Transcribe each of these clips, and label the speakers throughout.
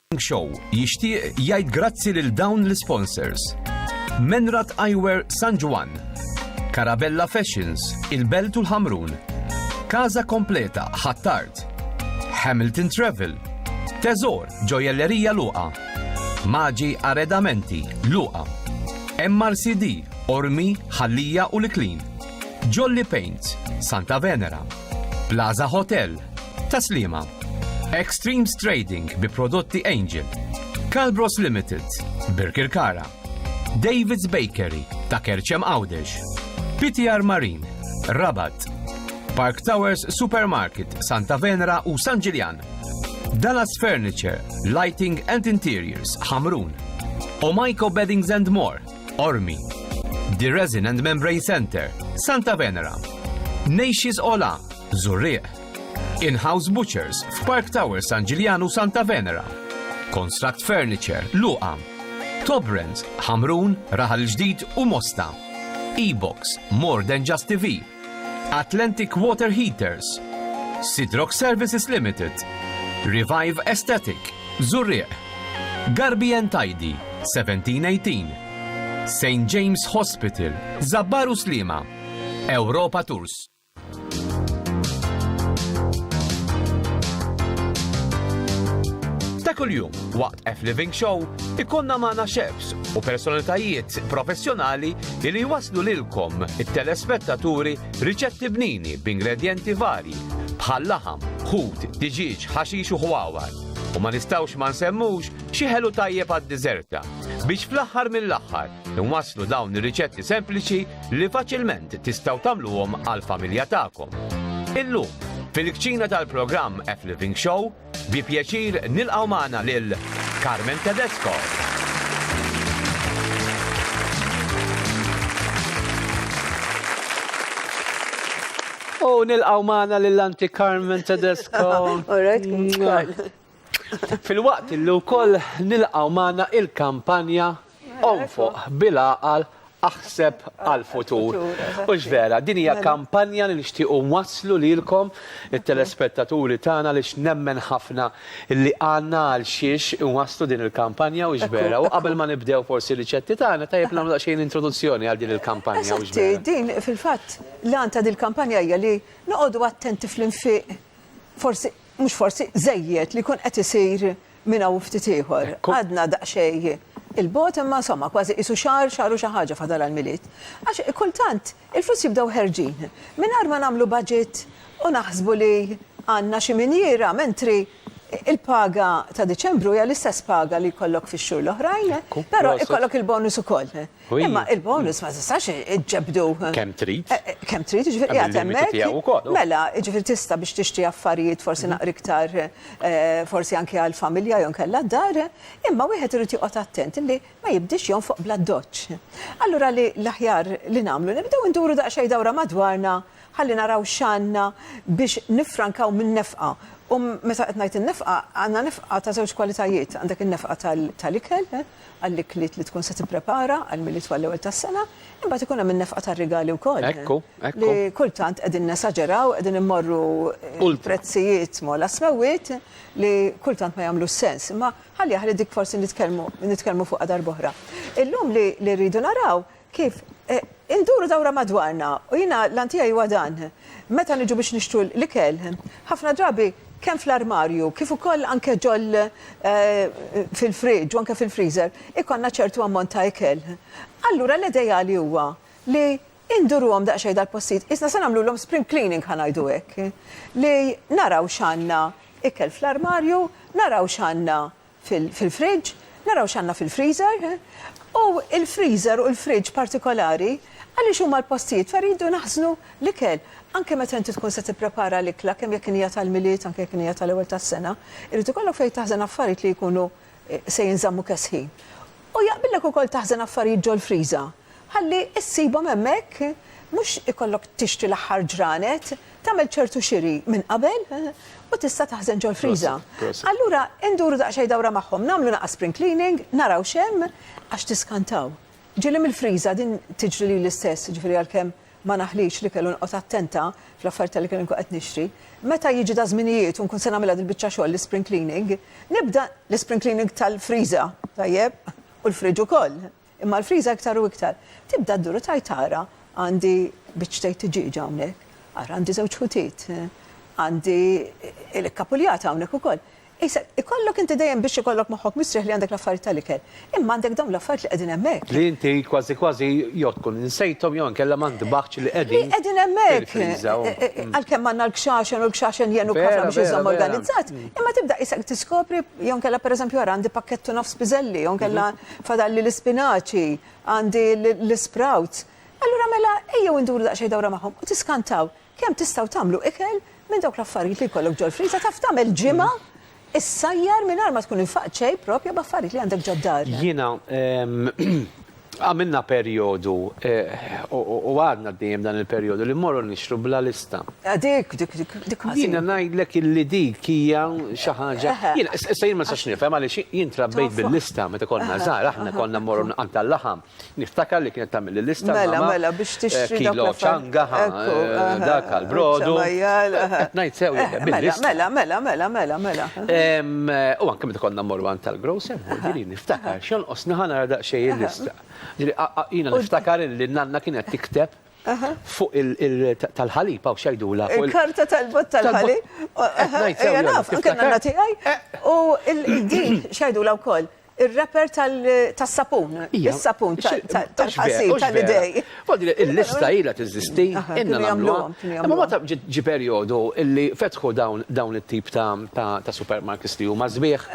Speaker 1: Morning Show jixtieq jgħid grazzi lil dawn l-isponsors. Menrat Eyewear San Ġwann, Carabella Fashions, il-Belt u l-Ħamrun, Casa Kompleta Ħ'Attard, Hamilton Travel, Teżor Ġojellerija Luqa, Maġi Arredamenti Luqa, MRCD, Ormi, Ħallija u l-Iklin. Jolly Paints, Santa Venera, Plaza Hotel, Taslima, Extremes Trading bi prodotti Angel, Calbros Limited, Birkirkara, David's Bakery ta' Kerċem Għawdex, PTR Marine, Rabat, Park Towers Supermarket, Santa Venera u San Ġiljan, Dallas Furniture, Lighting and Interiors, Hamrun, Omaiko Beddings and More, Qormi, The Resin and Membrane Centre, Santa Venera, Nejxis Ola, Zurrieq, In-House Butchers f'Park Tower San Ġiljanu Santa Venera, Construct Furniture, Luqa, Tobrens, Ħamrun, Raħal Ġdid u Mosta, E-Box, More Than Just TV, Atlantic Water Heaters, Sidrox Services Limited, Revive Aesthetic, Zurrieq, Garbi and Tidy, 1718, St. James Hospital, Zabbar u Sliema, Europa Tours. Ta' kuljum, waqt F Living Show, ikonna magħna chefs u personalitajiet professjonali li jwasslu lilkom, it-telespettaturi, riċetti bnini b'ingredjenti varji bħal laħam, ħut, diġieġ, ħaxix u ħwawar. U ma nistgħux ma nsemmux xi ħelu tajjeb għad-diżerta, biex fl-aħħar mill-aħħar inwasslu dawn ir-riċetti sempliċi li faċilment tistgħu tagħmluhom għall-familja tagħkom. Illum, fil-kċina tal-programm F Living Show, Bi pjaċir nilqgħu magħna lil Carmen Tedesco.
Speaker 2: U nilqaw maħna l-anti Carmen Tedesco. Fil-waqt illu kol nilqaw maħna il-kampanja Onfoq bil-għaqal, aħseb għall-futur. Hux vera? Din hija kampanja li nixtiequ nwasslu lilkom, it-telespettaturi tagħna, għaliex nemmen ħafna li għandna għal xiex inwasslu din il-kampanja, hux vera? U qabel ma nibdew forsi r-riċetti tagħna, tajjeb li nagħmlu daqsxejn introduzzjoni għal din il-kampanja, hux vera? Eżatti, din fil-fatt
Speaker 3: l-għan ta' din il-kampanja hija li noqogħdu attenti fl-infiq, forsi, mhux forsi, żejjed li jkun qed isir Minn hawn u ftit ieħor, għadna daqsxejn 'il bogħod imma insomma kważi qisu xahar, xahar u xi ħaġa fadal għall-Milied. Għax kultant il-flus jibdew ħerġin mingħajr ma nagħmlu budget u naħsbu li għandna xi minjiera mentri l-paga ta' Diċembru hija l-istess paga li jkollok fix-xhur l-oħrajn, però jkollok il-bonus ukoll. Imma il-bonus ma tistax iġġebdu. Kemm trid.
Speaker 2: Kemm trid, ġifieri
Speaker 3: qiegħed hemmhekk. Mela, ġifieri tista' biex tixtri affarijiet forsi naqra iktar forsi anke għall-familja jew inkella d-dar, imma wieħed irid joqgħod attent li ma jibdiex jonfoq bl-addoċċ. Allura li l-aħjar li nagħmlu nibdew induru daqsxejn dawra madwarna ħalli naraw x'għandna biex niffrankaw min-nefqa. U meta qed ngħid in-nefqa, għandna nefqa ta' żewġ kwalitajiet, għandek in-nefqa tal-ikel, għall-ikliet li tkun se tipprepara għall-Milied għall-ewwel tas-sena, imbagħad ikun hemm in-nefqa tar-rigali wkoll. Ekku, ekku. Li
Speaker 2: kultant
Speaker 3: qegħdin nesaġeraw, qegħdin immorru prezzijiet ma' l-asmewwiet li kultant ma jagħmlux sens. Imma ħalli aħli dik forsi nitkellmu fuqha darb'oħra. Illum li rridu naraw Kif? Induru dawra madwarna u jiena l-għan tiegħi huwa dan, meta niġu biex nixtru l-ikel, ħafna drabi kemm fl-armarju kif ukoll anke ġol fil-fridge u anke fil-freezer ikollna ċertu ammont ta' ikel. Allura l-edejali huwa li induruhom daqsxejn dal-postijiet, qisna se nagħmlulhom spring cleaning ħa ngħidu hekk, li naraw x'għandna ikel fl-armarju, naraw x'għandna fil-fridge, naraw x'għandna fil-freezer, u l-freezer u l-fridge partikolari għaliex huma l-postijiet fejn rridu naħżnu l-ikel. Anke meta inti tkun se tipprepara l-ikla kemm jekk hija tal-Milied anke jekk hija tal-ewwel tas-sena, irid ikollok fejn taħżen affarijiet li jkunu se jinżammu kesħin. U jaqbillek ukoll taħżen affarijiet ġol-friża ħalli ssibhom hemmhekk, mhux ikollok tixtri l-aħħar ġranet, tagħmel ċertu xiri minn qabel u tista' taħżen ġol-friża. Allura induru daqsxejn dawra magħhom, nagħmlu naqas spring cleaning, naraw x'hemm, għax tiskantaw. Ġieli mill-friża, din tiġri lili stess, jiġifieri għalkemm ma naħlix li kellu noqgħod attenta fl-affarijiet li kelli nkun qed nixtri. Meta jiġi da' żminijiet u nkun se nagħmilha dil-biċċa xogħol, l-ispring cleaning, nibda l-ispring cleaning tal-friża, tajjeb, u l-fridge ukoll, imma l-friża iktar u iktar, tibda ddur u tgħid ara għandi biċċtejn tiġieġa hawnhekk, ara għandi żewġ ħutiet, għandi il-ikkapuljata hawnhekk ukoll. Isa, ikollok inti dejjem biex ikollok moħħok mistrieħ li għandek l-affarijiet tal-ikel, imma għandek dawn l-affarijiet li qegħdin hemmhekk. Li inti kważi kważi
Speaker 2: jew tkun insejthom jew inkella ma ntbaħtx li qegħdin. Li qegħdin hemmhekk.
Speaker 3: Għalkemm għandna l-kxaxen u l-kxaxen jgħinu kafra biex iżomm organizzat, imma tibda isek tiskopri jew inkella pereżempju ara għandi pakkett u nofs piżelli jew inkella fadalli l-ispinaċi, għandi l-isprouts. Allura mela ejjew induru daqsxejn dawra magħhom u tiskantaw. Kemm tistgħu tagħmlu ikel minn dawk l-affarijiet li jkollok ġol-friża? Taf tagħmel ġimgħa issajjar mingħajr ma tkun infaqt xejn propja b'affarijiet li għandek ġod-dar. Jiena
Speaker 2: għamilna perjodu u għadna għaddejjin b'dan il-perjodu li mmorru nixtru bla lista. Ah dik, dik, dik,
Speaker 3: dik mhix. Jiena
Speaker 2: ngħidlek illi dik hija xi ħaġa. Jiena, issa jien ma nistax nifhem għaliex jien trabbejt bil-lista meta konna żgħar, aħna konna mmorru nqantal-laħam. Niftakar li kienet tagħmilli lista l-mamma. Mela, mela, biex tixtri dak
Speaker 3: l-affarijiet. Kilo ċanga, ħa,
Speaker 2: dak għall-brodu. Qed ngħid sew jien, bil-lista. Mela, mela, mela, mela, mela. U anke meta konna mmorru għand tal-grocer, ġieli niftakar x'jonqosni ħa nara daqsxejn il-lista. Ġieli jiena niftakar li n-nanna kienet tikteb fuq il-tal-ħalib hawn x'jgħidulha. Il-karta tal-bott
Speaker 3: tal-ħalib. Qed ngħid sew. Jiena naf, anke n-nanna tiegħi. U din x'jgħidulha wkoll. Ir-rapper tas-sapun. Is-sapun tal-ħasil tal-idej. Il-lista
Speaker 2: ilha teżisti, ilna nagħmluha. Imma meta ġie perjodu li fetħu dawn it-tip ta' supermarkets li huma sbieħ,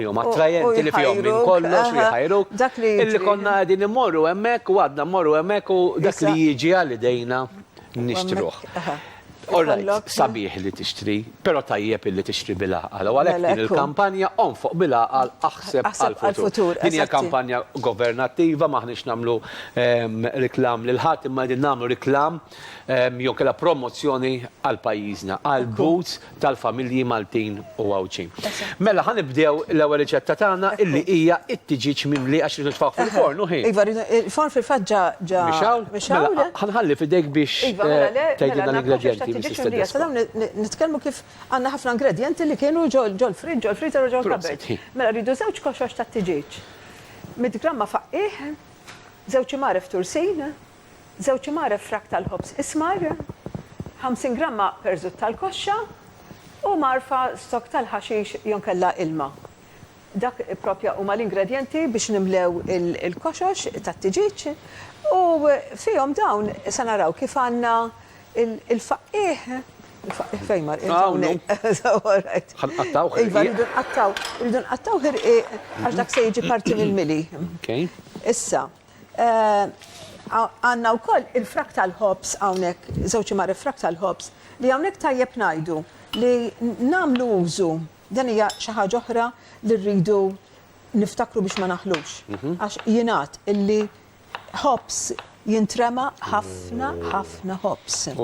Speaker 2: li huma attrajenti, li fihom minn kollox, li jħajruk, illi konna qegħdin immorru hemmhekk u għadna mmorru hemmhekk u dak li jiġi għal idejna nixtruh. All right, sabiħ li tixtri, però tajjeb illi tixtri bil-għaqal. U għalhekk din il-kampanja Onfoq bil-Għaqal, Aħseb għall-Futur. Din hija kampanja governattiva, m'aħniex nagħmlu reklam lil ħadd, imma qegħdin nagħmlu reklam jew inkella promozzjoni għal pajjiżna, għall-boots, tal-familji Maltin u Għawdxin. Mela ħa nibdew l-ewwel riċetta tagħna illi hija t-tiġieġ mimli għax rridu nitfgħuh fil-forn u ħin. Iva, il-forn fil-fatt
Speaker 3: ġa ġa. Mixgħul? Mixgħul. Mela
Speaker 2: ħa nħalli f'idejk biex tgħidilna l-ingredjenti Mrs. Tedesco.
Speaker 3: Nitkellmu kif għandna ħafna ingredjenti li kienu ġol-friġġ, ġol-freezer u ġol-kabbert. Mela rridu żewġ koxox tat-tiġieġ. Mitt gramma faqqigħ, żewġ imgħaref tursin, żewġ imgħaref frak tal-ħobż ismar, 50 gramma perżut tal-koxxa u mgħarfa stokk tal-ħaxix jonkella ilma. Dak proprja huma l-ingredjenti biex nimlew il-koxox tat-tiġieġ u fihom dawn se naraw kif għandna il-faqqiegħ, il-faqqiegħ fejn mar qiegħed hawnhekk? Alright.
Speaker 2: Ħa nqattgħuh ħirqiq. Iva, rridu nqattgħu,
Speaker 3: rridu nqattgħu ħirqiq għax dak se jiġi parti mill-mili. Issa, Għandna wkoll il-frak tal-ħobż hawnhekk, żewġ imgħaref frak tal-ħobż, li hawnhekk tajjeb ngħidu li nagħmlu użu, dan hija xi ħaġa oħra li rridu niftakru biex ma naħlux. Għax jingħad illi ħobż jintrema ħafna ħafna ħobż.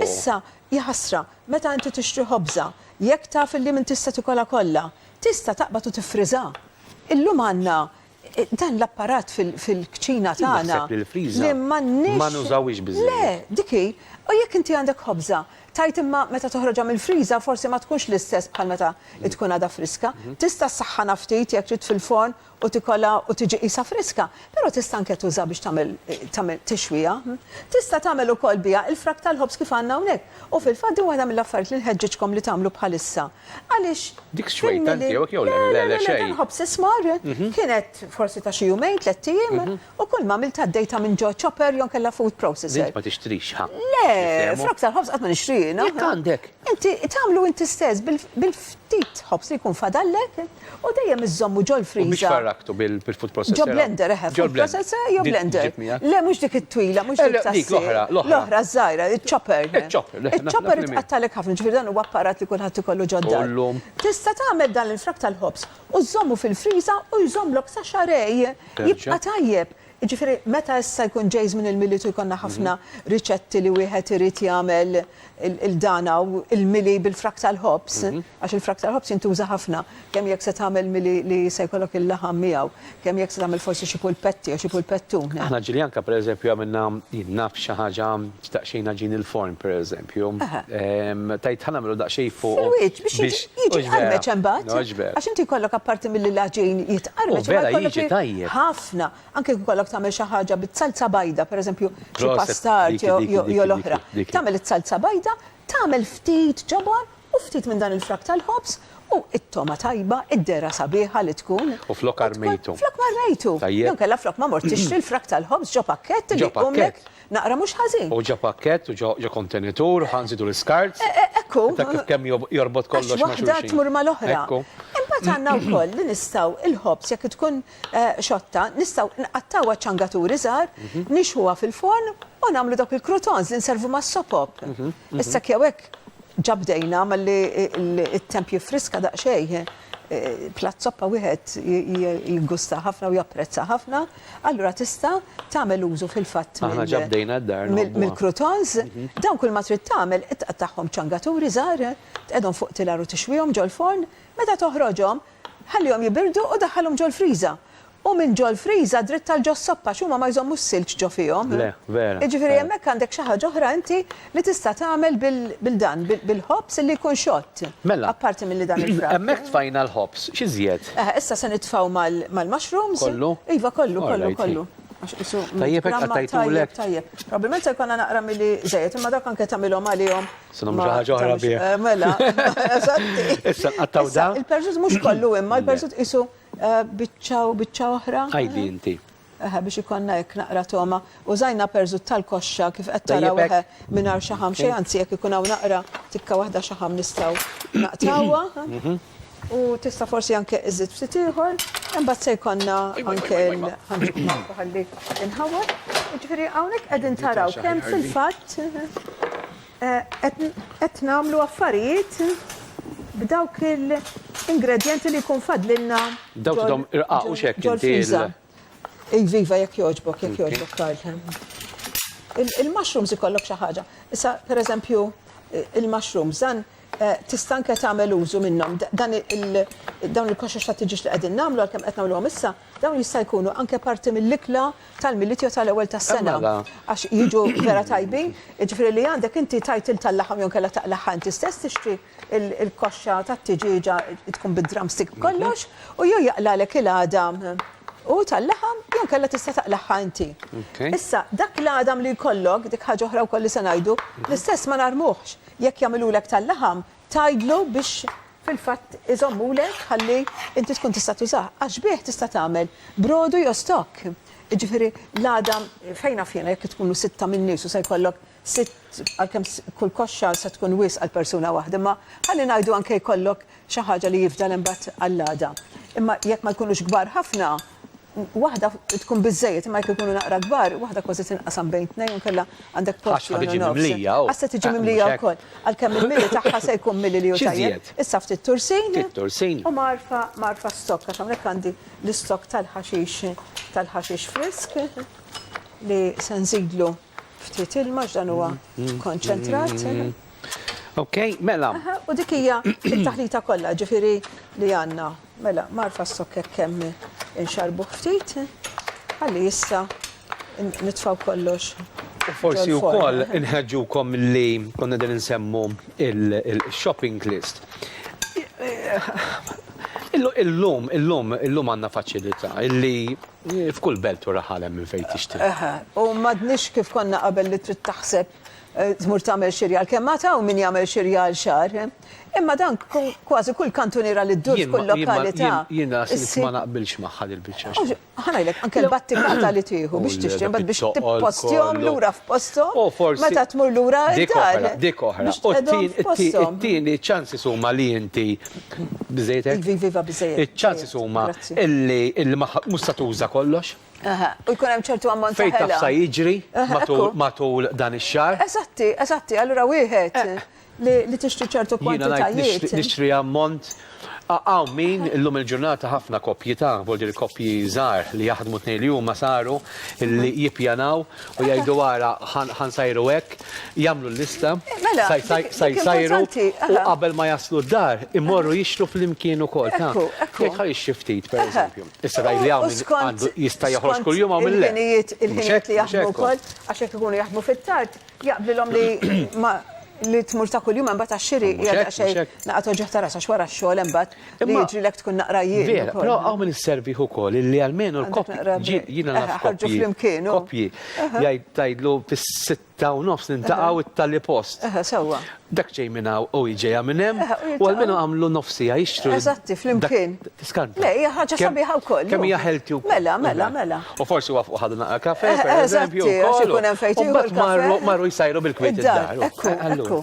Speaker 3: Issa, jaħasra, meta inti tixtri ħobża, jekk taf illi m'intix se tikolha kollha, tista' taqbad u tiffriżha. Illum għandna Dan l-apparat fil-kċina tagħna. Jien naħseb li l-freezer ma nużawhiex biżżejjed.
Speaker 2: Le, dik hi.
Speaker 3: U jekk inti għandek ħobża, tgħid imma meta toħroġha mill-freezer forsi ma tkunx l-istess bħal meta tkun għadha friska. Tista' ssaħħanha ftit jekk trid fil-forn u tikolha u tiġi qisha friska, però tista' anke tuża biex tagħmel tagħmel tixwija. Tista' tagħmel ukoll biha il-frak tal-ħobż kif għandna hawnhekk. U fil-fatt din waħda mill-affarijiet li nħeġġiġkom li tagħmlu bħalissa. Għaliex, Dik xwejta fimni li.
Speaker 2: tiegħek jew le? Le, Le, le, le, le, xejn. L-inħobb s'ismar,
Speaker 3: kienet forsi ta' xi jumejn, tlett ijiem, u kulma għamiltha għaddejtha minn ġo chopper jew inkella food Int processor. ma tixtrix, ħa.
Speaker 2: Le, Niftehmu? frott
Speaker 3: tal-ħobż qatt ma nixtrih, no. Jekk għandek. Inti
Speaker 2: tagħmlu
Speaker 3: inti stess bil-ftit ħobż li jkun fadallek. U dejjem iżżommu ġol-friża. U biex farraktu bil-food
Speaker 2: processor? Ġol-blender, eħe, food
Speaker 3: processor jew blender. Le, mhux dik it-twila, mhux dik ta' dik l-oħra, l-oħra żgħira, iċ-chopper. Iċ-chopper. Iċ-chopper tqattalek ħafna, ġifieri dan huwa apparat li kulħadd ikollu ġodda. Tista' tagħmel dan l-infrak tal-ħobż u żżommu fil-friża u jżommlok sa xarej. Jibqa' tajjeb. Jiġifieri meta issa jkun ġej żmien il-Milied u jkollna ħafna riċetti li wieħed irid jagħmel il-dan hawn, il-mili bil-frak tal-ħobż, għax il-frak tal-ħobż jintuża ħafna, kemm jekk se tagħmel mili li se jkollok il-laħam miegħu, kemm jekk se tagħmel forsi xi pulpetti jew xi pulpettun. Aħna ġiljanka
Speaker 2: pereżempju għamilna, jien naf xi ħaġa, xtaqxejn għaġin il-forn pereżempju. Pium. Tgħid ħa nagħmlu daqsxejn fuqu. Fil-wiċċ biex
Speaker 3: jiġi mqarmeċ imbagħad. Mhux vera. Għax inti jkollok apparti milli l-għaġin jitqarmeċ. Vera jiġi tajjeb.
Speaker 2: Ħafna. Anke jekk
Speaker 3: ikollok tagħmel xi ħaġa bit-salza bajda, pereżempju xi pastard jew l-oħra. Tagħmel is-salza bajda, tagħmel ftit ġobon u ftit minn dan il-frak tal-ħobż u t-togħma tajba, id-dehra sabiħa li tkun. U flok armejtu.
Speaker 2: Flok ma rmejtu.
Speaker 3: Jew kellha flok ma mort tixtri l-frak tal-ħobż ġo pakkett li jkunlek. Naqra mhux ħażin. U ġo pakkett u
Speaker 2: ġo kontenitur, ħa nżidu l-iskart. Ekku. Taf
Speaker 3: kemm jorbot
Speaker 2: kollox ma' xulxin. Għax waħda tmur mal-oħra.
Speaker 3: Ekku. Imbagħad għandna wkoll li nistgħu l-ħobż jekk tkun xotta, nistgħu nqattgħuha ċangaturi żgħar, nixħuha fil-forn u nagħmlu dawk il-croutons li nservu mas-sopop. Issa hekk jew hekk ġa bdejna malli t-temp jiffriska daqsxejn, platt soppa wieħed jiggusta ħafna u japprezza ħafna. Allura tista' tagħmel użu fil-fatt mill-croutons. Dawn kull ma trid tagħmel tqattagħhom ċangaturi żgħar, tqegħedhom fuq tilar u tixwihom ġol-forn. Meta toħroġhom, ħallihom jibirdu u daħħalhom ġol-friża. U minn ġol-friża dritt għal ġos-soppa għax huma ma jżommux silġ ġo fihom. Jiġifieri
Speaker 2: hemmhekk għandek xi
Speaker 3: ħaġa oħra inti Li tista' tagħmel bil-dan, bil-ħobż illi jkun xott. Mela. Apparti milli
Speaker 2: dan il-frak.
Speaker 3: Hemmhekk tfajna l-ħobż,
Speaker 2: x'iżjed? Aha, issa se nitfgħu
Speaker 3: mal-mushrooms. Kollu? Iva,
Speaker 2: kollu, kollu,
Speaker 3: kollu. Għax qisu. Tajjeb
Speaker 2: hekk qattajtulek. Tajjeb. Probabbilment se
Speaker 3: jkollna naqra milli żejjed, imma dak anke tagħmilhom għalihom. Se nagħmlu xi ħaġa oħra
Speaker 2: bih. Mela.
Speaker 3: Issa nqattgħu
Speaker 2: dan. Il-perżut mhux kollu
Speaker 3: imma l-perżut qisu biċċa u biċċa oħra. Għidi inti.
Speaker 2: Eħe biex ikollna
Speaker 3: hekk naqra togħma. Użajna perżut tal-koxxa kif qed taraw eħe mingħajr xaħam xejn anzi jekk ikun hawn naqra tikka waħda xaħam nistgħu naqtgħuha u tista' forsi anke iżżid ftit ieħor. Imbagħad se jkollna anke ħalli nħawwad. Jiġifieri hawnhekk qegħdin taraw kemm fil-fatt Qed nagħmlu affarijiet b'dawk il-ingredjenti li jkun fadlilna
Speaker 2: ġol-friża. Iva,
Speaker 3: iva, jekk jogħġbok, jekk jogħġbok, Karl. Il-mushrooms ikollok xi ħaġa. Issa, pereżempju, il-mushrooms, dan Tista' anke tagħmel użu minnhom. Dan il, dawn il-koxox ta' tiġieġ li qegħdin nagħmlu għalkemm qed nagħmluhom issa, dawn jista' jkunu anke parti mill-ikla tal-Milied jew tal-ewwel tas-sena. Għax jiġu vera tajbin. Jiġifieri li għandek inti tgħid lil tal-laħam jew inkella taqlagħha inti stess tixtri l-koxxa tat-tiġieġa tkun bid-drumstick b'kollox u jew jaqlagħlek il-għadam hu tal-laħam jew inkella tista' taqlagħha inti. Issa, dak l-għadam li jkollok, dik ħaġa oħra wkoll li se ngħidu, l-istess ma narmuhx. Jekk jagħmilulek tal-laħam, tgħidlu biex fil-fatt iżommulek ħalli inti tkun tista' tużah, għax bih tista' tagħmel brodu jew stock. Jiġifieri l-għada fejn naf jiena jekk tkunu sitta minn nies u se jkollok sitt għalkemm kull koxxa se tkun wisq għal persuna waħda imma ħalli ngħidu anke jkollok xi ħaġa li jifdal imbagħad għall-għada. Imma jekk ma jkunux kbar ħafna, waħda tkun biżżejjed, imma jekk ikunu naqra kbar, waħda kważi tinqasam bejn tnejn u nkella għandek post jew nofs. Għax ħa tiġi mimlija u. Għax
Speaker 2: se tiġi mimlija
Speaker 3: wkoll. Għalkemm il-mili tagħha se jkun mili li hu tajjeb. Issa ftit tursin. Ftit tursin. U mgħarfa, mgħarfa stokk għax hawnhekk għandi l-istokk tal-ħaxix, tal-ħaxix frisk li se nżidlu ftit ilma x'dan huwa konċentrat.
Speaker 2: Okay, mela. U dik hija
Speaker 3: t-taħlita kollha, ġifieri li għandna. Mela, magħrfa s-sokkek kemm inxarbuh ftit, ħalli issa nitfgħu kollox U forsi
Speaker 2: wkoll inħeġġukom li konna din insemmu il-shopping list. Illum, illum, illum għandna faċilità illi f'kull belt u raħal hemm minn fejn tixtri. Eħe, u m'għadniex
Speaker 3: kif konna qabel li trid taħseb tmur tagħmel xirja għalkemm għad hawn min jagħmel xirja għal xahar. Imma dan kważi kull kantuniera li ddur f'kull lokalità. Jien ras ma
Speaker 2: naqbilx magħha dil-biċċa xogħol. Ħa ngħidlek, anke
Speaker 3: l-battikata li tieħu biex tixtri imbagħad biex tippostihom lura f'posthom meta tmur lura d-dar. Dik oħra,
Speaker 2: it-tieni ċ-ċansis huma li inti biżejjed hekk. Iva, biżejjed.
Speaker 3: Iċ-ċansis huma
Speaker 2: li mhux se tuża kollox. U jkun hemm
Speaker 3: ċertu ammont ta' ħela. Fejn taf sa jiġri
Speaker 2: matul dan ix-xahar. Eżatti, eżatti,
Speaker 3: allura wieħed li tixtri
Speaker 2: ċertu
Speaker 3: kwantitajiet. Jiena ngħid nixtri
Speaker 2: ammont. Hawn min illum il-ġurnata ħafna koppji ta', vuol dire koppji żgħar li jaħdmu tnejn li huma saru li jippjanaw u jgħidu ara ħa nsajru hekk, jagħmlu l-lista sa jsajru u qabel ma jaslu d-dar imorru jixtru flimkien ukoll ta' jgħid ħa jixtri ftit pereżempju. Issa tgħid li hawn min għandu jista' joħroġ kuljum hawn min le. Il-ħinijiet li jaħdmu
Speaker 3: wkoll għax jekk ikunu jaħdmu fit-tard Jaqblilhom li ma li tmur ta' kuljum hemm bata xiri hija daqsxejn naqgħa toġoh ta' rasha x'wara x-xogħol hemm bad li jiġrilek tkun naqra jien. Vera, però hawn min
Speaker 2: isservih ukoll illi almenu l-koppji jiena naf koppji koppji jgħid tgħidlu fis-sitta u nofs nintaqgħu it-tali post. Eħe sewwa. Dak
Speaker 3: ġej minn hawn
Speaker 2: u hi ġejja minn hemm, u almenu għamlu nofs siegħa jixtru. Eżatti, flimkien.
Speaker 3: Tiskanti. Le, hija ħaġa
Speaker 2: sabiħa
Speaker 3: wkoll. Kemm hija healthy wkoll. Mela,
Speaker 2: mela, mela. U forsi
Speaker 3: waqfu ħadu
Speaker 2: naqra kafè, pereżempju. Eżatti, għax ikun hemm fejn tieħu l-kafè. U mbagħad marru jsajru bil-kwiet id-dar. Ekku, ekku.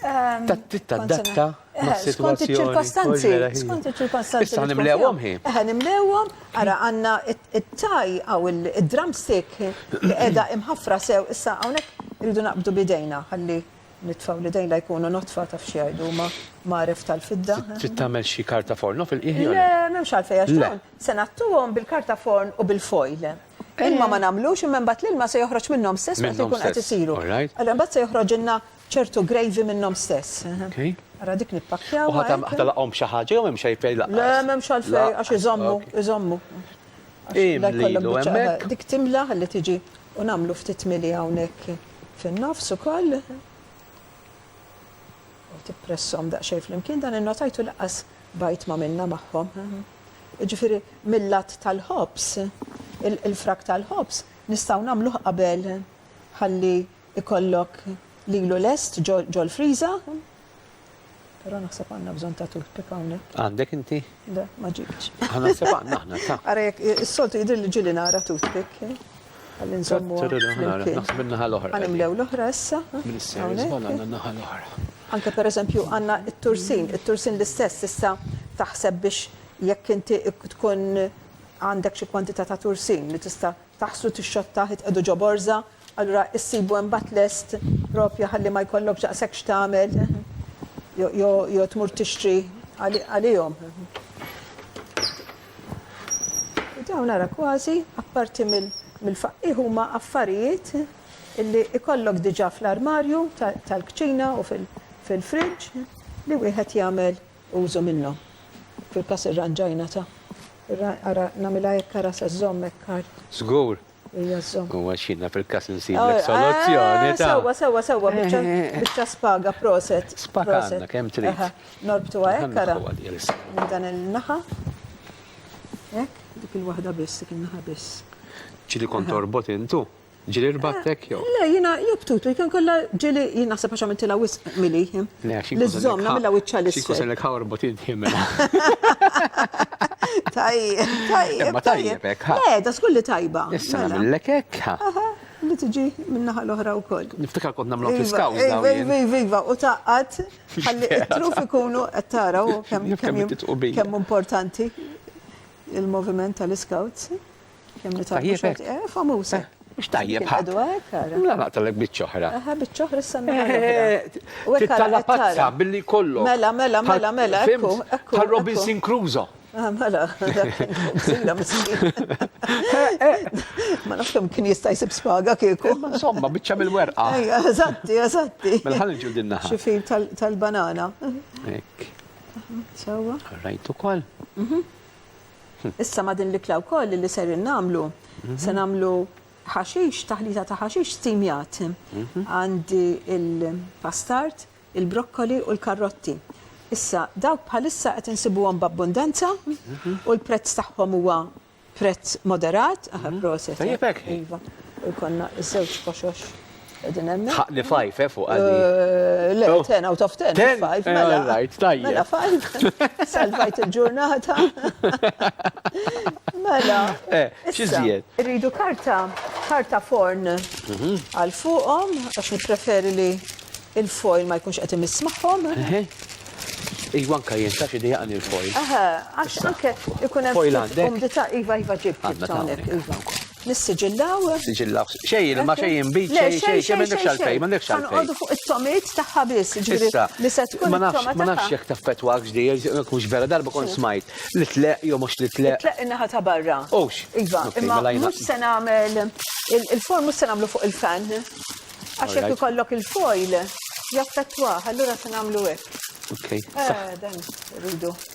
Speaker 3: Tittadatta
Speaker 2: mas-sitwazzjoni. Skont
Speaker 3: iċ-ċirkostanzi. Skont iċ-ċirkostanzi.
Speaker 2: Issa nimlewhom hi. Eħe, nimlewhom.
Speaker 3: Ara, għandna it-taj hawn id-drumstick li qiegħda imħaffra sew. Issa hawnhekk irridu naqbdu b'idejna ħalli. Nitfgħu l-idejna jkunu notfa taf x'jgħidu huma mgħaref tal-fidda. Trid tagħmel xi
Speaker 2: karta forn no fil-qiegħ jew le? Le, m'hemmx għalfejn għax
Speaker 3: dawn se ngħattuhom bil-karta forn u bil-foil. Ilma ma nagħmlux imma imbagħad l-ilma se joħroġ minnhom stess waqt li jkun qed isiru. Allura imbagħad se joħroġilna ċertu gravy minnhom stess. Ara dik nippakkjawha. U ħadd ħadd laqgħhom b'xi
Speaker 2: ħaġa jew m'hemmx għalfejn laqqas? Le, m'hemmx għalfejn għax
Speaker 3: iżommu, iżommu.
Speaker 2: Imlilu hemmhekk. Dik timla ħalli
Speaker 3: tiġi u nagħmlu ftit mili hawnhekk. fin-nofs ukoll u tippresshom daqsxejn flimkien dan innotajtu laqqas bajt ma minna magħhom. Jiġifieri mill-lat tal-ħobż, il-frak tal-ħobż nistgħu nagħmluh qabel ħalli ikollok lilu lest ġol-friża Però naħseb għandna bżonn ta' toothpick hawnhekk. Għandek inti? Le,
Speaker 2: ma ġibtx.
Speaker 3: Aħna naħseb għandna aħna,
Speaker 2: ta. Ara jekk is-soltu
Speaker 3: jidhir li ġieli nara toothpick. Eh? Ħalli nżommu. Naħseb in-naħa l-oħra. Għanimlew
Speaker 2: l-oħra issa.
Speaker 3: Eh? Minn is-sejn għandna n-naħa
Speaker 2: l-oħra. Anke per eżempju
Speaker 3: għanna il-tursin, il-tursin l-istess issa taħseb biex jekk inti tkun għandek xi kwantità ta' tursin li tista' taħslu tix-xotta titqiegħdu ġo borża allura issibu hemm bat lest proprju ħalli ma jkollokx daqshekk x'tagħmel jew tmur tixtri għalihom. U dawn ara kważi apparti mill-faqqigħ huma affarijiet illi ikollok diġà fl-armarju tal-kċina u fil-fridge li wieħed jagħmel Użu minnhom. Fil-każ irranġajna ta. Ra, ara, nagħmilha hekk ara se żżomm hekk għar. Żgur.
Speaker 2: Hija żżomm. U
Speaker 3: għax jiena fil-każ
Speaker 2: insiblek soluzzjoni ta. Sewwa, sewwa, sewwa, biċċa,
Speaker 3: biċċa spaga, proset. Spaga għandna kemm trid.
Speaker 2: Aha, norbtuha hekk
Speaker 3: ara. Minn dan il-naħa. Hekk, dik il-waħda biss, dik in-naħa biss. Ġieli kont
Speaker 2: torbot intu? Ġieli rbagħtek jew? Le, jiena jobtutu,
Speaker 3: jkun kollha ġieli jien naħseb għax għamiltilha wisq mili. Le, għax jien. Li żżomm nagħmilha wiċċha l-isfel. Xi jkun ħa orbot id-dħi
Speaker 2: mela. Tajjeb, tajjeb. Ma tajjeb hekk ħa. Le, da żgur li tajba.
Speaker 3: Issa mela. nagħmillek hekk
Speaker 2: ħa. Aha, li tiġi
Speaker 3: min-naħa l-oħra wkoll. Niftakar kont nagħmlu fl-iskawż
Speaker 2: dawn. Iva, iva, iva, u taqqat
Speaker 3: ħalli t-truf ikunu qed taraw kemm importanti il-moviment tal-iskawz. Tajjeb. Famusa. Mux tajjeb.
Speaker 2: Mla naqtalek bitċoħra. Aha, bitċoħra
Speaker 3: s-sanna.
Speaker 2: Tittala pazza billi kollu. Mela, mela, mela, mela.
Speaker 3: Ekku, ekku. Tal Robinson
Speaker 2: Crusoe. Ah, mela,
Speaker 3: zina miskin. Ma nafx kemm kien jista' jsib spaga kieku. Insomma, biċċa mill-werqa.
Speaker 2: Ejja, eżatti, eżatti.
Speaker 3: Mela ħalli ġu dinna.
Speaker 2: Xifin tal-banana.
Speaker 3: Ek.
Speaker 2: Sewa.
Speaker 3: Rajtu kol.
Speaker 2: Mhm.
Speaker 3: Issa ma' din l-ikla wkoll li ser innagħmlu, se nagħmlu ħaxix, taħlita ta' ħaxix stimjat. Għandi il-pastard, il-brokkoli u l-karrotti. Issa, dawk bħalissa qed insibuhom b'abbundanza u l-prezz tagħhom huwa prezz moderat, aha proset. Tajjeb hekk. Iva,
Speaker 2: u jkollna
Speaker 3: ż-żewġ koxox. Edin emmi? Tħaqni fajf, eh, fuq
Speaker 2: għaddi. Eh, le, oh. ten out of
Speaker 3: ten, fajf, eh, mela. Right, tajja. Mela fajf, salvajt il-ġurnata. Mela. Eh, xizziet.
Speaker 2: Rridu karta,
Speaker 3: karta forn mhm. għal fuqom, għax nipreferi li il-foil ma jkunx għetim ismaħom.
Speaker 2: Iva anka jien ta' xi dejaqni il-foil. Aha,
Speaker 3: għax anke ikun hemm
Speaker 2: umdità
Speaker 3: iva iva ġib ġib iva. Nissiġillaw. Siġillaw.
Speaker 2: Xej ilma, xej inbid, xej xej xej m'għandekx għalfejn, m'għandekx għalfejn. Ħanqogħdu fuq it-tomiet
Speaker 3: tagħha biss, ġifieri li se tkun Ma nafx, ma nafx jekk
Speaker 2: taffettwak x'di, jekk mhux vera darba kont smajt li tleq jew mhux li tleq. Tleq in-naħa ta' barra.
Speaker 3: Ux. Iva,
Speaker 2: imma
Speaker 3: mhux se nagħmel il-form mhux se nagħmlu fuq il-fan. Għax jekk ikollok il-foil jaffettwah, allura se nagħmlu hekk. Ok. Eh,
Speaker 2: dan
Speaker 3: rridu.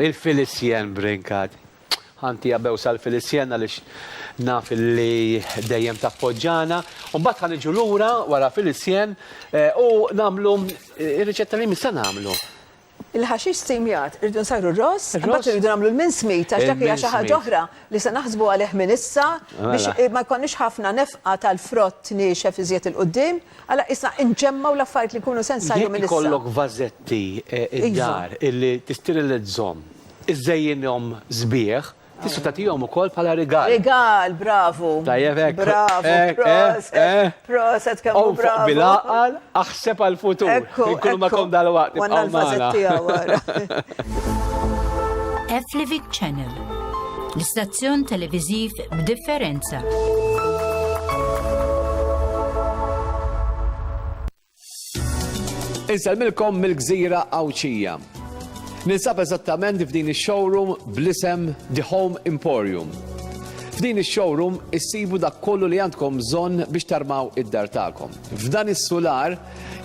Speaker 2: Il-Filisjen brinkat. Ħanti għabew sal-Filisjen għaliex naf li dejjem tappoġġana. U mbagħad ħa niġu lura wara Filisjen u nagħmlu r-riċetta li jmiss sa nagħmlu. Il-ħaxix
Speaker 3: stimjat irridu nsajru r-ross, imbagħad irridu nagħmlu l-mincemeat għax dak hija xi ħaġa oħra li se naħsbu għalih minn issa biex ma jkollniex ħafna nefqa tal-frott niexef iżjed 'il quddiem. Għala qisna nġemmgħu l-affarijiet li jkunu sens għalihom minn issa? Jekk ikollok vażetti
Speaker 2: d-dar li tisterilizzhom, iżżejjinhom sbieħ, tista' tagħtihom ukoll bħala rigal. Rigal, bravu!
Speaker 3: Tajjeb hekk!
Speaker 2: Bravu!
Speaker 3: Proset! Proset kemm hu bravu! Onfoq bil-għaqal,
Speaker 2: aħseb għall-futur. Ekku! Inkunu magħkom dalwaqt, ibqgħu magħna. Għandna
Speaker 3: l-vażetti hawn wara.
Speaker 4: Afflivit Channel L-istazzjon televiżiv b'differenza.
Speaker 1: Insellmilkom mill-gżira Għawdxija. Ninsab eżattament f'din ix-showroom bl-isem The Home Emporium. F'din ix-showroom issibu dak kollu li għandkom bżonn biex tarmaw id-dar tagħkom. F'dan is-sular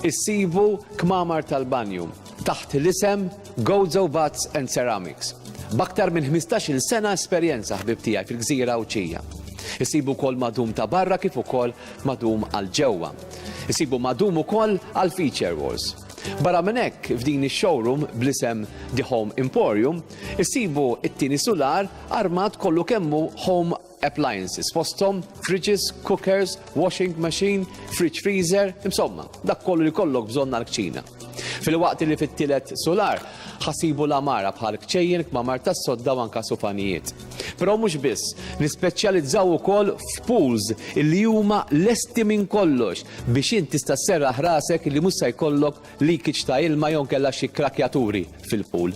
Speaker 1: issibu kmamar tal-banju, taħt l-isem Gozo Butts and Ceramics, b'aktar minn ħmistax-il sena esperjenza ħbieb tiegħi fil-gżira Għawdxija. Isibu wkoll madum ta' barra kif ukoll madum għal ġewwa. Isibu madum ukoll għal feature walls. Barra minn hekk, f'din ix-showroom bl-isem The Home Emporium, isibu t-tieni sular armat kollu kemm hu home appliances, fosthom fridges, cookers, washing machine, fridge freezer, insomma, dak kollu li kollok bżonn għall-kċina. Filwaqt li fit-tielet sular ħasibu l-għamara bħal kċejjen, kmamar tas-sodda u anka supanijiet. Però mhux biss, nispeċjalizzaw ukoll f'pools li huma lesti minn kollox biex int tista' sserraħ rasek li mhux se jkollok leakage ta' ilma jew inkella xi krakjaturi fil-pool.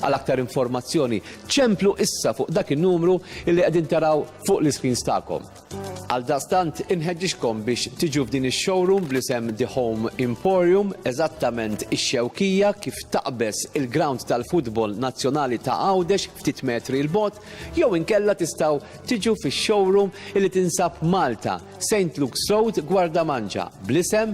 Speaker 1: Għal aktar informazzjoni, ċemplu issa fuq dak in-numru li qegħdin taraw fuq l-iscreens tagħkom. Għaldaqstant, inħeġġiġkom biex tiġu f'din ix-showroom bl-isem The Home Emporium, eżattament ix-Xewkija, kif taqbeż il-ground tal-futbol nazzjonali ta' Għawdex ftit metri 'l bogħod, jew inkella tistgħu tiġu fix-showroom li tinsab Malta, Saint Luke's Road, Gwardamanġa, bl-isem,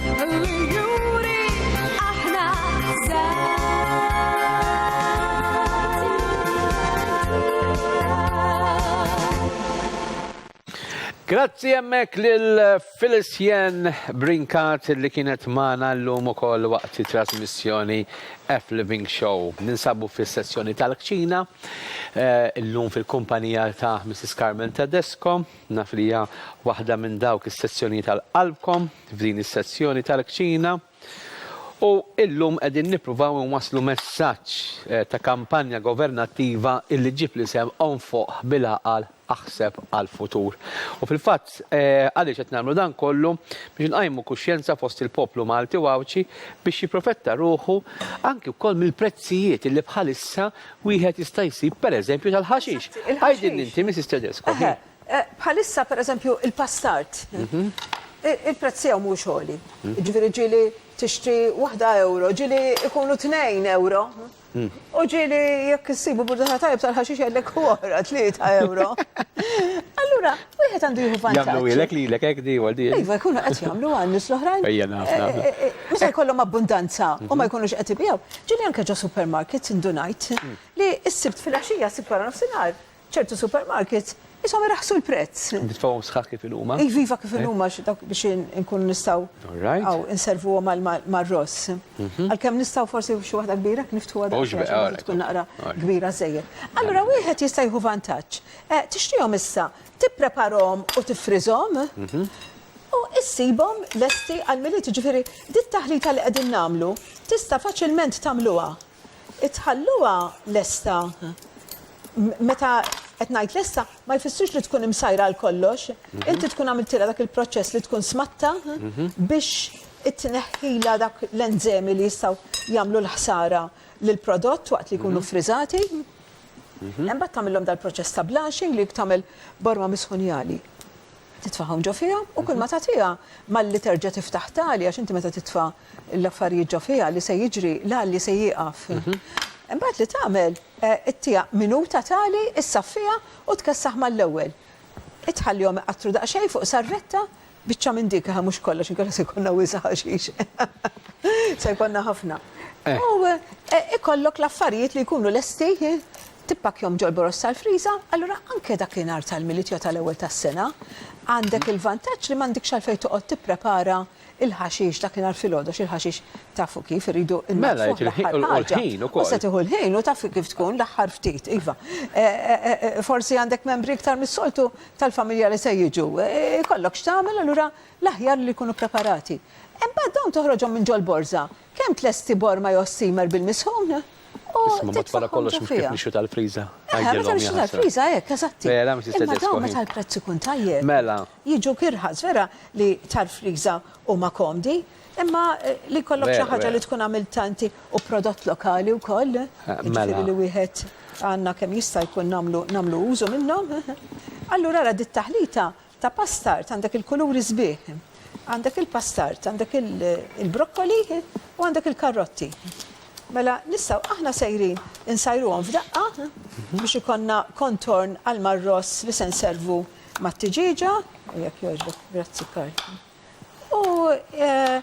Speaker 2: Grazzi jemmek lil Felicien Brinkat li kienet maħna l-lum u koll waqt trasmissjoni F Living Show. Ninsabu fis sessjoni tal-kċina, eh, l-lum fil-kumpanija ta' Mrs. Carmen Tedesco, nafrija wahda minn dawk is-sessjoni tal-qalbkom. f'din is-sezzjoni tal-kċina u illum qegħdin nippruvaw inwasslu messaġġ ta' kampanja governattiva illi ġġib l-isem Onfoq bil-Għaqal Aħseb għall-Futur. U fil-fatt għaliex qed nagħmlu dan kollu biex inqajmu kuxjenza fost il-poplu Malti u Għawdxi biex jipprofetta ruħu anki wkoll mill-prezzijiet illi bħalissa wieħed jista' jsib pereżempju tal-ħaxix. Għidilni inti Mrs. Tedesco. Bħalissa,
Speaker 3: pereżempju, il-pastard, il-prezz tiegħu mhuwiex għoli. Jiġifieri ġieli tixtri waħda ewro, ġieli jkunu tnejn ewro, u ġieli jekk issibu burdata tajjeb tal-ħaxix jgħidlek hu oħra tlieta ewro. Allura, wieħed għandu jieħu vantaġġ. Jagħmluhielek lilek hekk di
Speaker 2: wal di? Iva, jkunu qed jagħmlu
Speaker 3: għal nies l-oħrajn. Ejja,
Speaker 2: naf, naf. Meta jkollhom
Speaker 3: abbundanza u ma jkunux qed ibigħu, ġieli anke ġo supermarkets indunajt li s-Sibt filgħaxija, s-Sibt waranofsinhar, Ċertu supermarkets qishom iraħħsu l-prezz. Nitfgħuhom sħaħ kif
Speaker 2: inhuma. Iva, iva kif inhuma għax
Speaker 3: dawk biex inkunu nistgħu hawn inservuhom mar-ross. Għalkemm nistgħu forsi xi waħda kbira jekk niftħuha daqsxejn għax forsi tkun naqra kbira żejjed. Allura wieħed jista' jieħu vantaġġ. Tixtrihom issa, tippreparahom u tiffriżhom u ssibhom lesti għall-Milied. Jiġifieri, dit-taħlita li qegħdin nagħmlu tista' faċilment tagħmluha. Tħalluha lesta, meta qed ngħid lesta, ma jfissirx li tkun imsajra għal kollox. Inti tkun għamiltilha dak il-proċess li tkun smatta biex tneħħilha dak l-enżemi li jistgħu jagħmlu l-ħsara lill-prodott waqt li jkunu ffriżati. Imbagħad tagħmilhom dal-proċess ta' blanching li tagħmel borma misħunjali. titfagħhom ġo fiha u kulma tagħtiha malli terġa' tiftaħ tali għax inti meta titfa' l-affarijiet ġo fiha li se jiġri l-għalli se jieqaf. Imbagħad li tagħmel ittiha minuta tali issaffiha u tkessaħ mal-ewwel. Itħallihom iqattru daqsxejn fuq sarretta, biċċa minn dik eħe mhux kollox inkella se jkollna wisq ħaxix. Se jkollna ħafna. U ikollok l-affarijiet li jkunu lesti Tippakkjahom ġol-boroż tal-friża, allura anke dak li nhar tal-Milied jew tal-Ewwel tas-Sena, għandek il-vantaġġ li m'għandikx għalfejn toqgħod tipprepara l-ħaxix dak li nhar filgħodox, il-ħaxix tafu kif, iridu nnaddfuh l-aħħar
Speaker 2: ħaġa. U se tieħu l-ħin u
Speaker 3: taf kif tkun, l-aħħar ftit, iva. Forsi għandek membri iktar mis-soltu tal-familja li se jiġu. Ikollok x'tagħmel, allura l-aħjar li jkunu ppreparati. Imbagħad dawn toħroġhom minn ġol-borża, Kemm tlesti borma jew steamer bil-misħun u Isma' mat wara
Speaker 2: titfaħħom kollox ġo mhux kif fiha. nixtru tal-friża. Eħe, meta Għidilhom nixtru jaħasra.
Speaker 3: tal-friża hekk, eżatti. Vera, Mrs. Imma Tedesco, dawn hi. meta l-prezz ikun tajjeb. Mela. Jiġuk
Speaker 2: irħas,
Speaker 3: vera li tal-friża huma komdi, imma li jkollok xi Vera, ħaġa vera. li tkun għamiltha inti u prodott lokali wkoll, Mela. jiġifieri li wieħed għandna kemm jista' jkun nagħmlu nagħmlu użu minnhom. Allura ara dit-taħlita Ta' pastard għandek il-kuluri sbieħ, għandek il-pastard, għandek il-brokkoli u għandek il-karrotti. Mela nistgħu aħna sejrin insajruhom f'daqqa biex ikonna kontorn għal marross li se nservu mat-tiġieġa, u jekk jogħġbok, grazzi Karl. U eh,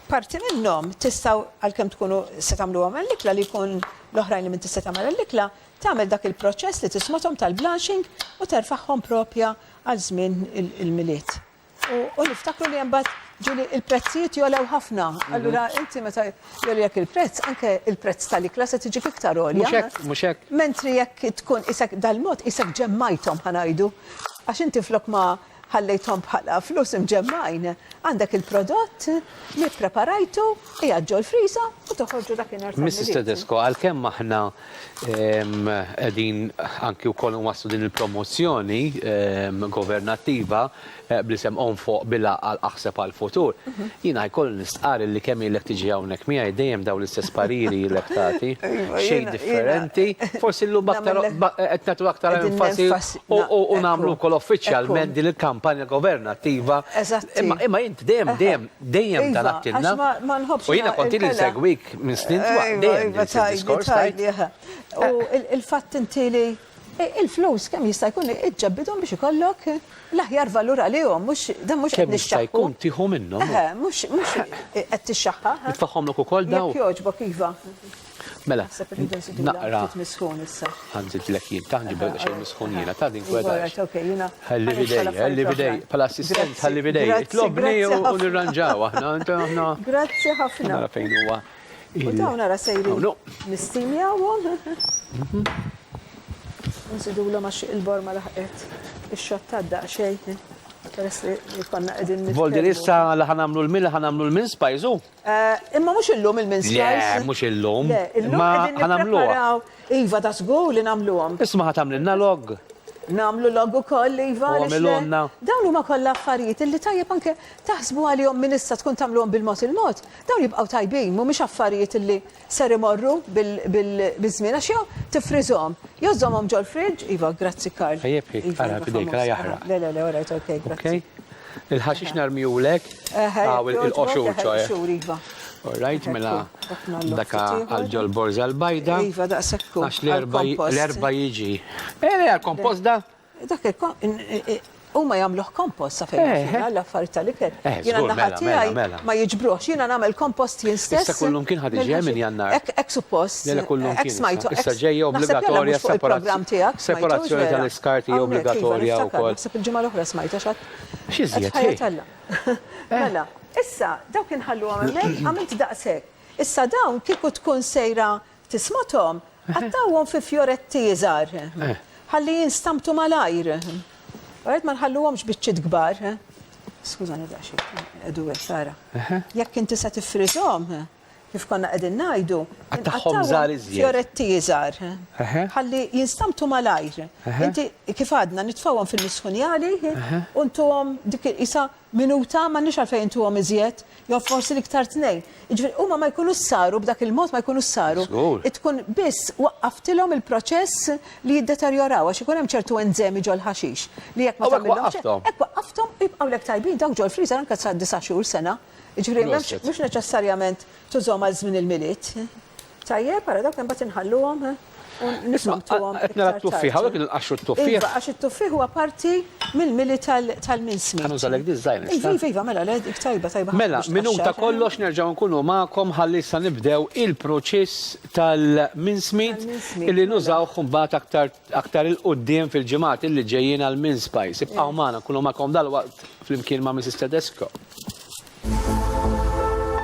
Speaker 3: parti minnhom tistgħu għalkemm tkunu se tagħmluhom għall-ikla li jkun l-oħrajn li minn tista' tagħmel għall-ikla, tagħmel dak il-proċess li tismathom tal-blanching u terfagħhom proprja għal żmien il-Milied. U niftakru li mbagħad ġieli il-prezzijiet jolew ħafna. Mhm. Allura inti meta jolilek il-prezz, anke il-prezz tal-ikla se tiġi fiktar għolja. Mhux hekk, mhux hekk. Mentri
Speaker 2: jekk tkun
Speaker 3: isek dal-mod isek ġemmajthom ħanajdu. Għax inti flok ma Ħallejthom bħala flus imġemmgħin. Għandek il-prodott li ppreparajtu, qiegħed ġol-friża u toħorġu dakinhar tal-Milied. Mrs. Tedesco,
Speaker 2: għalkemm aħna qegħdin anki wkoll inwasslu din il-promozzjoni governattiva bl-isem Qom Foq bil-Għaqal Aħseb għall-Futur, jiena jkolli nistqarr illi kemm ilek tiġi hawnhekk miegħi dejjem dawn l-istess pariri ilek tagħti, xejn differenti, forsi llum b'aktar qed nagħtu aktar enfasi U nagħmlu wkoll uffiċjalment din il-kampanja governattiva. Imma int dejjem dejjem dejjem talabtilna. U jiena kont ili nsegwik minn snin twal dejjem diskors tajt. U
Speaker 3: il-fatt inti li il-flus kemm jista' jkun iġġebbidhom biex ikollok l-aħjar valur għalihom, mhux dan mhux qed nixxaħħu. Kemm jista' jkun tieħu
Speaker 2: minnhom. Mhux
Speaker 3: qed tixxaħħaħ. Nitfagħhomlok ukoll dawn.
Speaker 2: Jekk jogħġbok iva.
Speaker 3: Mela,
Speaker 2: Naħseb irridu nsibu naqra. Ftit misħun issa.
Speaker 3: Ħanżidlek jien, ta'
Speaker 2: ħanġibek xejn misħun jiena, ta' din kweta. Ħalli bidej, ħalli bidej, pal assistent ħalli bidej. Itlobni u nirranġaw aħna, aħna. Grazzi ħafna.
Speaker 3: Nara fejn huwa.
Speaker 2: U dawn nara
Speaker 3: sejri. Nistimi għawhom. Nsidu l għax il-bor ma laħqet. Ix-xotta d xejn. Peress li konna qegħdin. Voldi issa li ħanamlu
Speaker 2: l-mil, ħanamlu l-min spajzu. Imma mhux illum
Speaker 3: il-mince pies. Le, mhux illum. Le,
Speaker 2: illum qegħdin
Speaker 3: nippreparaw. Iva, ta' żgur li nagħmluhom. Isma' ħa tagħmlilna log?
Speaker 2: Nagħmlu log
Speaker 3: ukoll, iva. U għamilhomlna. Dawn huma kollha affarijiet illi tajjeb anke taħsbu għalihom minn issa tkun tagħmluhom bil-mod il-mod. Dawn jibqgħu tajbin, mhumiex affarijiet illi Ser imorru biż-żmien għax jew tiffriżhom, jew żżommhom ġol-fridge, iva, grazzi Karl. Ejjeb hi, ara f'idejk,
Speaker 2: ara jaħraq. Le, le, le, all right, ok,
Speaker 3: grazzi. Il-ħaxix
Speaker 2: narmihulek hawn il-qoxur ċoe. Qoxur, iva. All
Speaker 3: right, mela
Speaker 2: dak għal ġol-borża l-bajda. Iva, daqshekk hu. Għax l-erba' jiġi. Eh, le, għall-kompost da? Dak
Speaker 3: huma jagħmluh kompost sa fejn eh, eh. l-affarijiet tal-ikel. Eh, jiena naħa mela, tiegħi mela, mela. ma jiġbruhx, jiena nagħmel kompost jien stess. Issa kullum kien ħad iġi minn
Speaker 2: jannar. Ek suppost. Lele
Speaker 3: kullum kien. Smajtu.
Speaker 2: Issa ġejja obbligatorja separazzjoni tal-iskarti obbligatorja wkoll. Naħseb il-ġimgħa l-oħra smajta
Speaker 3: xatt. Xi żjed.
Speaker 2: Mela,
Speaker 3: issa dawk inħallu għamel għamilt daqshekk. Issa dawn kieku tkun sejra Tismathom, qattgħuhom fi fjoretti iżgħar, ħalli jinstamtu malajr. Alright, ma nħalluhomx biċċiet kbar. Skużani daqsxejn, qegħdu hekk tara. Jekk inti se tiffriżhom, kif konna qegħdin ngħidu, Qattagħhom żgħar
Speaker 2: iżjed. fjoretti iżgħar,
Speaker 3: ħalli jinstamtu malajr. Inti kif għadna nitfgħuhom fil-misħunjali u ntuhom dik qisha Minuta, m'għandniex għalfejn intuhom iżjed, jew forsi l-iktar tnejn. Jiġifieri huma ma jkunux saru, b'dak il-mod ma jkunux saru. Żgur. Tkun biss waqqaftilhom il-proċess li jiddeterjoraw, għax ikun hemm ċertu enżemi ġol-ħaxix li jekk ma tagħmilhomx. U hekk waqqafthom. Hekk waqqafthom u jibqgħu lek tajbin, dawk ġol-freezer anke sa disa' xhur, sena. Jiġifieri m'hemmx, mhux neċessarjament tużhom għal żmien il-Milied. Tajjeb, ara dawk imbagħad inħalluhom u nisomtuhom. Qed nara t-tuffieħ, hawnhekk
Speaker 2: qed inqaxxu t-tuffieħ. Iva, għax it-tuffieħ huwa
Speaker 3: parti mill-mili tal-minsmi. Ħa nużalek di ż-żgħira. Iva,
Speaker 2: iva, iva, mela, dik
Speaker 3: tajba, tajba ħafna. Mela, minuta
Speaker 2: kollox nerġgħu nkunu magħkom ħalli issa nibdew il-proċess tal-minsmi li nużawh imbagħad aktar 'il quddiem fil-ġimgħat illi ġejjin għall-mince pies. Ibqgħu magħna, nkunu magħkom dalwaqt flimkien ma' Mrs. Tedesco.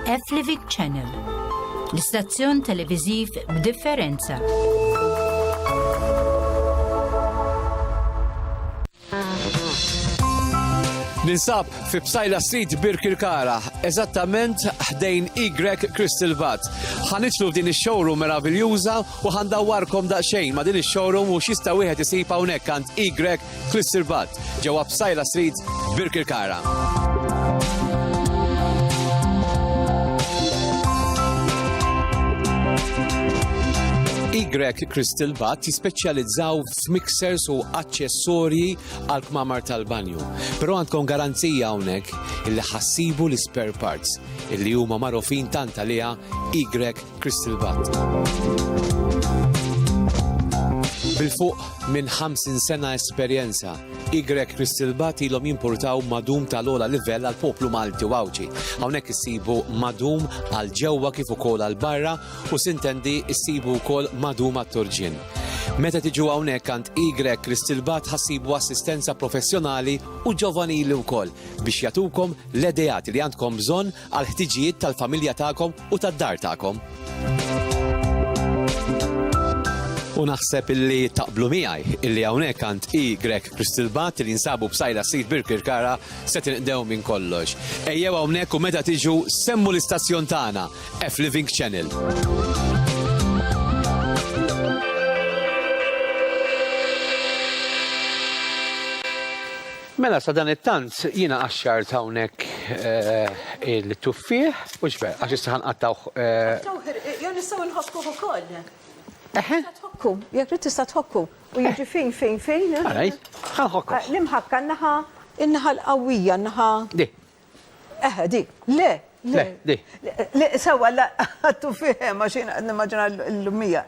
Speaker 4: F-Livik Channel, l-istazzjon televiżiv b'differenza.
Speaker 1: Ninsab fi Bsajla Street Birkirkara, eżattament ħdejn Y Crystal Vat. Ħanitlu f'din ix-showroom meraviljuża u ħandawwarkom daqsxejn ma' din ix-showroom u x'jista' wieħed isib hawnhekk għand Y Klissirvat, ġewwa Psajla Street, Birkirkara. Grek Crystal Bat jispeċjalizzaw f'mixers u aċċessorji għal kmamar tal-banju. Però għandkom garanzija hawnhekk illi ħassibu l-spare parts illi huma magħrufin tant għaliha Y Crystal Bat. Bil-fuq minn 50 sena esperjenza, Y Crystal Bat ilhom jimpurtaw madum tal-ola livell għal poplu Malti u Għawġi. Hawnhekk issibu madum għal ġewwa kif ukoll għal barra u sintendi issibu wkoll madum għat-turġin.
Speaker 5: Meta tiġu hawnhekk għand Y Crystal Bat ħassibu assistenza professjonali u ġovanili wkoll biex jatukom l-edejat li għandkom bżonn għall-ħtiġijiet tal-familja tagħkom u tad-dar tagħkom. U naħseb illi taqblu miegħi illi hawnhekk għand i Grek Kristilbat li jinsabu b'sajla sid Birkirkara se tinqdew minn kollox. Ejjew hawnhekk u meta tiġu semmu l-istazzjon tagħna F Living Channel.
Speaker 2: Mela sadanittant jiena qaxxart hawnhekk il-tuffieħ, hux vera, għax issa ħa nqattgħuh. Nqattgħuh irqiq jew
Speaker 3: nistgħu nħokkuh ukoll. Eħe. Tista' tħokku, jekk trid tista' tħokku u jiġi fin fin fin. Ara hi, ħa
Speaker 2: nħokkuh. L-imħakka n-naħa,
Speaker 3: in-naħa l-qawwija, n-naħa. Di,
Speaker 2: Eħe, di. Le,
Speaker 3: le. Le, di.
Speaker 2: Le, sewwa, la,
Speaker 3: għattu fih hemm għax jien nimmaġina l-lumija.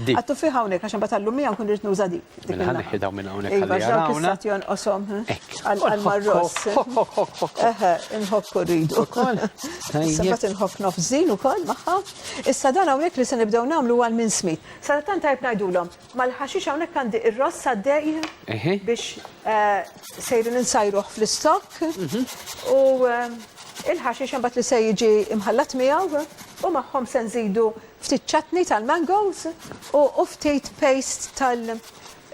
Speaker 3: Di. Għattu
Speaker 2: fih hawnhekk għax
Speaker 3: imbagħad għall-lumija nkun rrid nuża dik. Mela ħa neħħi dawn minn
Speaker 2: hawnhekk ħalli jarawna. Iva, x'dan kif
Speaker 3: jonqoshom għall-marross. Eħe, inħokku rridu. Ukoll. Sabat inħobb nofżin ukoll magħha. Issa dan hawnhekk li se nibdew nagħmlu għal minn smit. Sara tant tajb ngħidulhom. Mal-ħaxix hawnhekk għandi ir-ross għaddej biex sejrin insajruh fl-istokk u il-ħaxix imbagħad li se jiġi imħallat miegħu u magħhom se nżidu ftit ċatni tal-mangoes u ftit paste tal-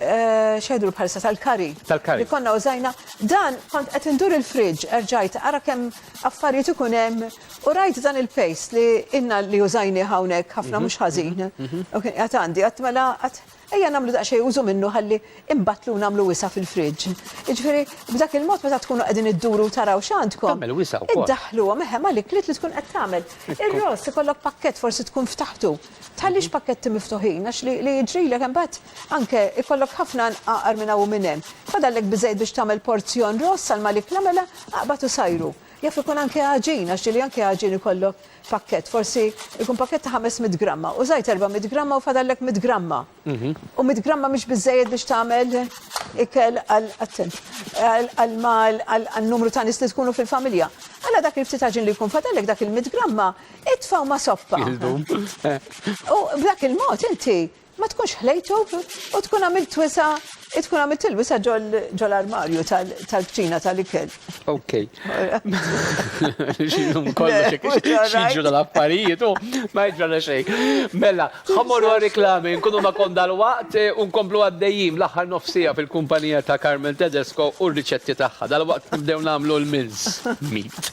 Speaker 3: xejdru bħalissa tal-kari. Tal-kari. Li konna użajna. Dan kont qed indur il-fridge erġajt ara kemm affarijiet ikun hemm U rajt dan il-paste li inna li użajni hawnhekk ħafna mhm. mhux ħażin. Mhm. Mhm. Għat għandi, għat mela għat ejja namlu daqxej użu minnu ħalli imbatlu namlu wisa fil-fridġ. Iġveri, b'dak il-mod meta tkunu qegħdin idduru taraw x'għandkom. Tagħmel wisa wkoll. Iddaħlu
Speaker 2: meħe malik
Speaker 3: li tkun qed tagħmel. Ir-ross ikollok pakkett forsi tkun ftaħtu. Tħallix mhm. pakketti miftuħin għax li jiġrilek imbagħad anke ikollok ħafna nqaqar minn hawn minn hemm. Fadallek biżejjed biex tagħmel porzjon ross għal malik l-għamela aqbad u sajru. Jaf ikun anke għaġin, għax ġieli anke għaġin ikollok pakkett, forsi jkun pakkett ta' 500 gramma, użajt 400 gramma u fadallek 100 gramma. U 100 gramma mhix biżżejjed biex tagħmel ikel għal attent, għal mal għal numru ta' nies li tkunu fil-familja. Alla dak il-ftit għaġin li jkun fadallek dak il-100 gramma, itfgħu ma' soppa. U b'dak il-mod inti Ma tkunx ħlejtu u tkun għamilt wisa' tkun għamilt il-wisa' ġol-armarju tal-kċina tal-ikel. Ok.
Speaker 2: Xilum kollox xieġu dal-affarijiet u ma jġrana xejn. Mela, ħamor u reklami, nkunu ma kondal waqt u nkomplu għaddejjim l-aħħar nofsija fil-kumpanija ta' Carmel Tedesco u r-riċetti tagħha. Dal-waqt nibdew nagħmlu l-mince meat.